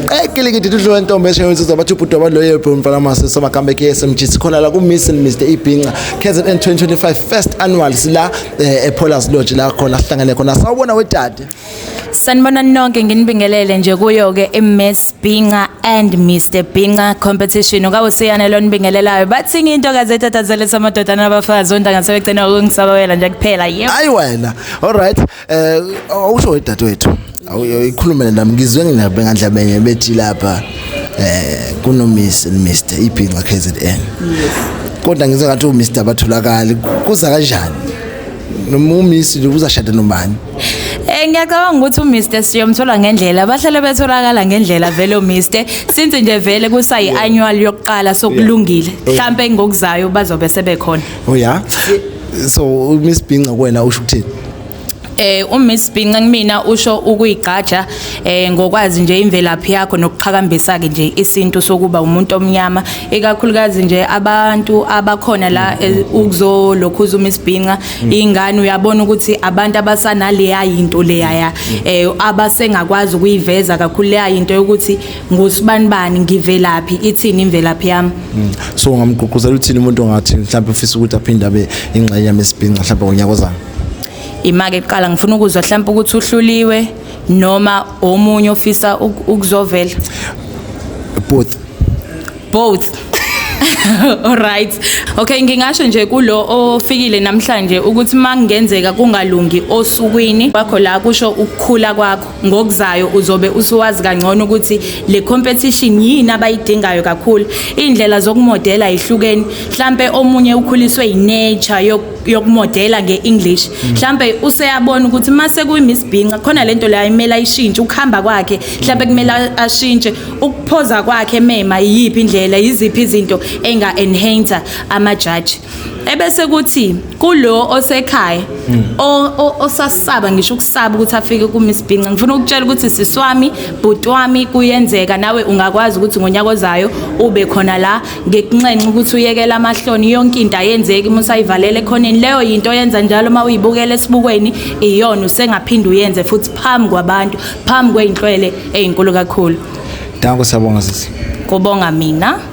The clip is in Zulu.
qekile ke didudlo wentombi eshayo insizwa bathi ubhuti wabaloye bro mfana mase samakamba eKSMG sikhona la ku Miss and Mr Ibhinca KZN 2025 first annual sila eh, ePolars Lodge la khona sihlangene khona sawubona wedade Sanibona nonke nginibingelele nje kuyo ke iMiss Binga and Mr Binga competition okawusiyane lo nibingelelayo bathi into kazetatazele samadoda nabafazi ontanga sebegcina ukungisabawela nje kuphela yebo ayi wena all right Eh awusho wedadewethu. Awuyikhulumele nami ngizwe nginabe ngandlabenye bethi lapha eh kuno Miss Mr Ibhinca KZN. Yes. Kodwa ngizwe ngathi u Mr batholakala kuza kanjani? Noma u Miss uzashada nobani? Eh ngiyacabanga ukuthi uMr siyomthola ngendlela bahlale betholakala ngendlela vele uMr since nje vele kusa iannual yokuqala sokulungile mhlambe ngokuzayo bazobe sebekhona. Oh yeah. so umiss bhinca kuwena usho ukuthini eh uMiss Binca kumina usho ukuyigqaja eh ngokwazi nje imvelaphi yakho nokuqhakambisa ke nje isintu sokuba umuntu omnyama ikakhulukazi nje abantu abakhona la eh, ukuzolokhuza uMiss Binca mm. ingane uyabona ukuthi abantu abasanaleya into leyaya eh abasengakwazi ukuyiveza kakhulu leya into yokuthi ngusbanibani ngivelaphi ithini imvelaphi yami mm. so ngamgqugquzela uthini umuntu ongathi mhlawumbe ufisa ukuthi aphinde abe ingxenye yami esibhinca mhlawumbe ngonyaka ozayo imake kuqala ngifuna ukuzwa mhlawumbe ukuthi uhluliwe noma omunye ofisa ukuzovela both both Alright. Okay ngingasho nje kulo ofikile namhlanje ukuthi mangenzeka kungalungi osukwini wakho la kusho ukukhula kwakho. ngokuzayo uzobe usuwazi kangcono ukuthi le competition yini abayidingayo kakhulu indlela zokumodela ihlukeni mhlambe omunye ukhuliswe inature yokumodela ngeEnglish mm. mhlambe useyabona ukuthi mase kuyiMiss Binca khona lento la imela ishintshe ukuhamba kwakhe mhlambe kumela ashintshe ukuphoza kwakhe mema iyiphi indlela yiziphi izinto enga enhancer ama judge ebese kuthi kulo osekhaya hmm. osasaba ngisho ukusaba ukuthi afike kuMiss Binca ngifuna ukutshela ukuthi siswami bhuti wami kuyenzeka nawe ungakwazi ukuthi ngonyaka ozayo ube khona la ngekunxenxa ukuthi uyekele amahloni yonke into ayenzeki uma usayivalele khoneni leyo yinto oyenza njalo uma uyibukela esibukweni iyona usengaphinde uyenze futhi phambi kwabantu phambi kweyinhlwele eyinkulu kakhulu Danko siyabonga sisi Kubonga mina